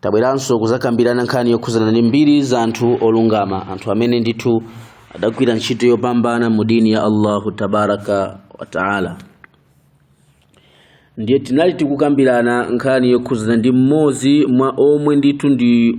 tabweranso kuzakambirana nkhani yokhuzana ndi mbiri za anthu olungama anthu amene ndithu adagwira ntchito yopambana mu dini ya allahu tabaraka wataala ndiye tinali tikukambirana nkhani yokhuzana ndi mmodzi mwa omwe ndithu ndi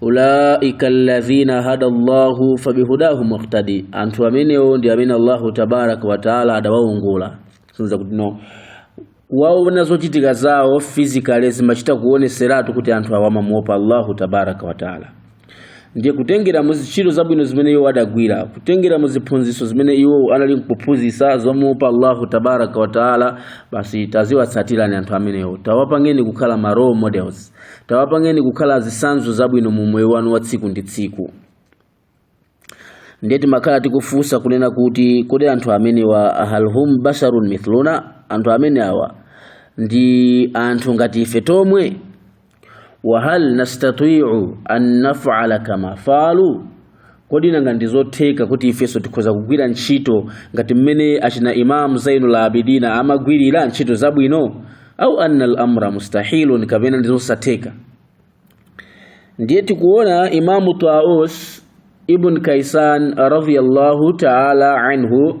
ulaika alladhina hada Allahu fabihudahu muqtadi, anthu amenewo ndi amene Allahu tabaraka wa taala adawaongola. Sonza kuti no ukawaona zochitika zawo physically zimachita kuoneseratu kuti anthu awa amamuopa Allahu tabaraka wa taala ndiye kutengera muzintchito zabwino zimene iwo adagwira kutengera mu ziphunzitso zimene iwo anali nkuphunzitsa zomuopa allahu tabaraka wataala basi taziwatsatirani anthu amenewo tawapangeni kukhala ma role models tawapangeni kukhala zisanzo zabwino mu moyo wanu wa tsiku ndi tsiku ndiye timakhala tikufunsa kunena kuti kodi anthu amenewa hal hum basharun mithluna anthu amene awa ndi anthu ngati ife tomwe wahal nastati'u an naf'ala kama fa'alu kodi nanga ndi zotheka kuti ifenso tikhoza kugwira ntchito ngati mmene achina imamu zainul abidina amagwirira ntchito zabwino au anna al amra mustahilun kapena ndi zosatheka ndiye tikuona imamu taus ibn kaisan radiyallahu taala anhu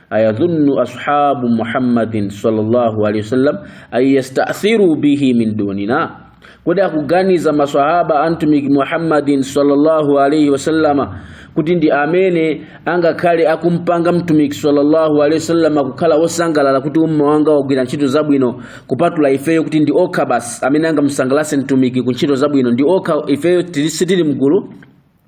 ayadhunnu ashabu muhammadin sallallahu alaihi wasallam an yasta'thiru bihi min dunina kodi akuganiza maswahaba a mtumiki muhammadin sallallahu alaihi wasallama kuti ndi amene angakhale akumpanga mtumiki sallallahu alaihi wasallama kukhala wosangalala kuti umma wanga wagwira ntchito zabwino kupatula ifeyo kuti ndi okha basi amene angamsangalatse mtumiki ku ntchito zabwino ndi okha ifeyo sitili mgulu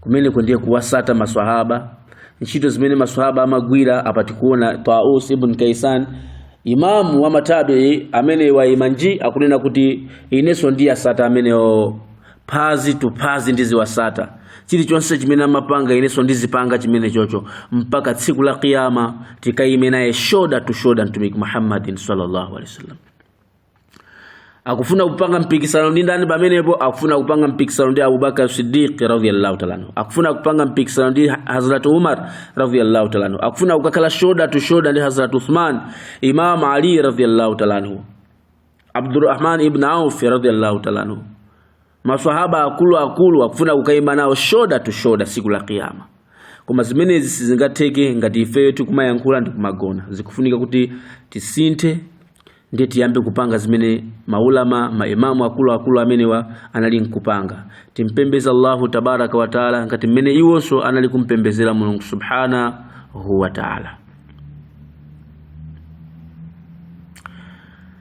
kumeneku ndiye kuwasata maswahaba ntchito zimene maswahaba amagwira apa tikuona taus ibn kaisan imamu wa matabii amene waimanji akunena kuti inenso ndiwasata amenewo phazi to phazi ndiziwasata chilichonse chimene amapanga inenso ndizipanga chimene chocho mpaka tsiku la kiyama tikaime naye shoulder to shoulder mtumiki muhammadin sallallahu alaihi wasallam akufuna kupanga mpikisano ndi ndani pamenepo akufuna kupanga mpikisano ndi abubakar sidiq radhiyallahu ta'ala anhu akufuna kupanga mpikisano ndi hazrat umar radhiyallahu ta'ala anhu akufuna kukakhala shoulder to shoulder ndi hazrat uthman imam ali radhiyallahu ta'ala anhu abdurrahman ibn auf radhiyallahu ta'ala anhu maswahaba akulu akulu akufuna kukaima nawo shoulder to shoulder siku la kiyama koma zimenezi sizingatheke ngati ifeyo tikumayankhula ndi kumagona zikufunika kuti tisinthe ndiye tiyambe kupanga zimene maulama maimamu akuluakulu amenewa anali nkupanga timpembeze allahu tabaraka wataala ngati mmene iwonso anali kumpembezera mulungu subhanahu wataala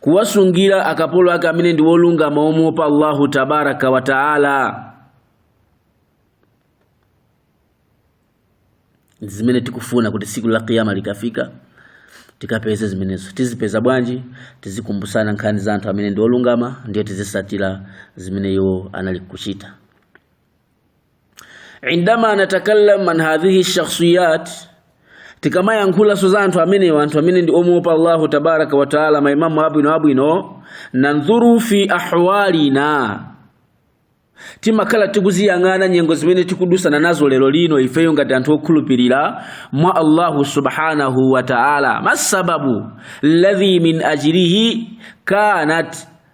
kuwasungira akapolo ake amene ndi wolungama omuopa allahu tabaraka wa taala ndi zimene tikufuna kuti tsiku la kiyama likafika tikapeze zimenezo tizipeza bwanji tizikumbusana nkhani za anthu amene ndi olungama ndiye tizisatira zimene iwo anali kuchita indama natakallam an hadhihi shakhsiyat tikamayankhulanso za anthu amenewa anthu amene ndi omuopa allahu tabaraka wataala maimamu abwino abwino nanzuru fi ahwalina timakhala tikuziyang'ana nyengo zimene tikudusana nazo lero lino ifeyo ngati anthu okhulupirira mwa allahu subhanahu wataala ma sababu ladhi min ajlihi kanat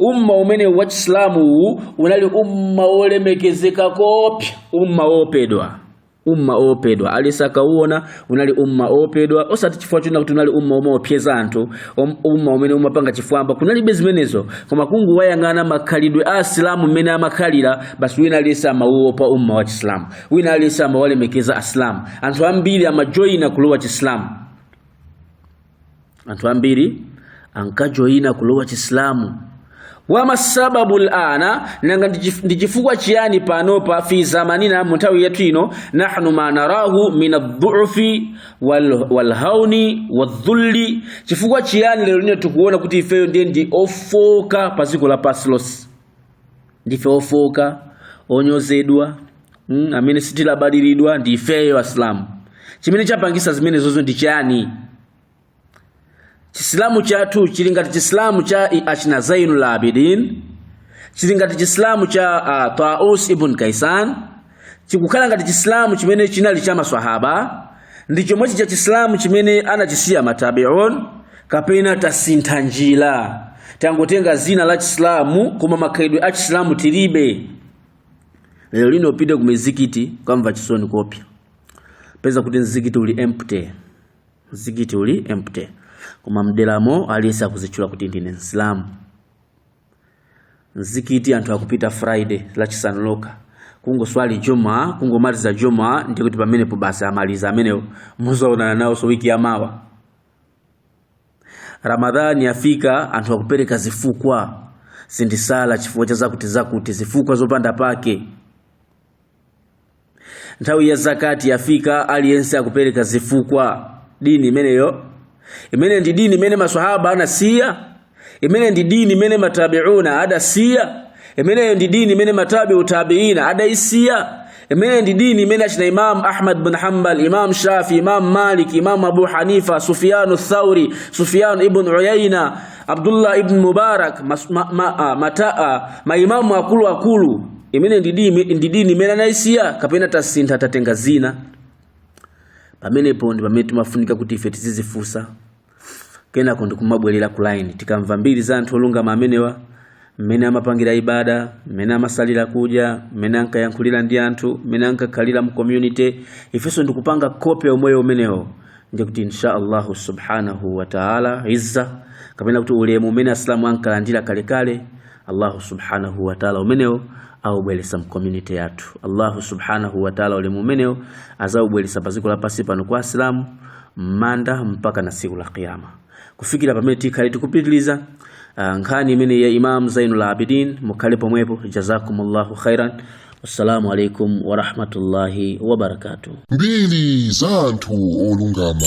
umma umene wa chisilamu uwu unali umma wolemekezeka kopya umma woopedwa umma oopedwa aliyense akauona unali umma oopedwa osati chifukwa china kuti unali umma omaopyeza anthu om- umma umene umapanga chifwamba kunalibe zimenezo koma kungowayang'ana makhalidwe a asilamu mmene amakhalira basi wina aliyense amauopa umma wa chisilamu wina aliyense amawalemekeza asilamu anthu ambiri amajoyina kulowa chisilamu anthu ambiri ankajoyina kulowa chisilamu wama sababu l-ana nanga ndi chifukwa chiyani panopa fi zamanina mu nthawi yathu ino nahnu ma narahu min adhufi walhauni wadhulli chifukwa chiyani lero lino tikuona kuti ifeyo ndiye ndi ofoka pa dziko lapansi lonse ndife ofoka onyozedwa mm, amene sitilabadiridwa ndi ifeyo asilamu chimene chapangisa zimenezozo ndi chani chisilamu chathu chili ngati chisilamu cha achina zainul abidin chili ngati chisilamu cha uh, taus ibn kaisan chikukhala ngati chisilamu chimene chinali cha maswahaba ndi chomwechi cha chisilamu chimene anachisiya matabiun kapena tasintha njira tangotenga zina la chisilamu koma makhalidwe a chisilamu tilibe lero lino upite ku mizikiti ukamva chisoni kopya peza kuti mzikiti uli empty mzikiti uli empty koma mderamo aliyense akuzitchula kuti ndine msilamu mzikiti anthu akupita friday lachisanu lokha kungoswali juma kungomaliza juma ndiye kuti pamenepo basi amaliza amenewo muzaonana nawonso wiki ya mawa ramadhani yafika anthu akupereka zifukwa sindisala chifukwa cha zakuti zakuti zifukwa zopanda pake nthawi ya zakati yafika aliyense akupereka zifukwa dini imeneyo imene ndi dini imene maswahaba anasiya imene ndi dini imene matabiuna adasiya imeneyo ndi dini imene matabiu tabiina adaisiya imene ndi dini imene achina imam ahmad bin hanbal imam shafi imam malik imam abu hanifa sufyanu thauri sufyanu ibn uyaina Abdullah ibn Mubarak maimamu akuluakulu imene ndi dini imene anaisiya kapena tasintha tatenga zina pamenepo ndi pamene timafunika kuti ife tizizifunsa kenako ndikumabwerera ku line tikamva mbiri za anthu olungama amenewa mmene amapangira ibada mmene amasalira kudya mmene ankayankhulira ndi anthu mmene ankakhalira mu community ifenso ndikupanga kope umoyo umenewo ndikuti insha Allah subhanahu wa taala izza kapena kuti ulemu umene asilamu ankalandira kalekale allahu subhanahu wa taala umenewo aubweresa mcommunity yathu allahu subhanahu wa taala ulemu umenewo azaubweresa pa dziko lapansi pano kwa asilamu mmanda mpaka na tsiku la kiyama kufikira pamene tikhale tikupitiliza ah, nkhani imene ya imam zainul abidin mukhale pomwepo jazakumullahu khairan wassalamu alaikum warahmatullahi wabarakatuh mbiri za anthu olungama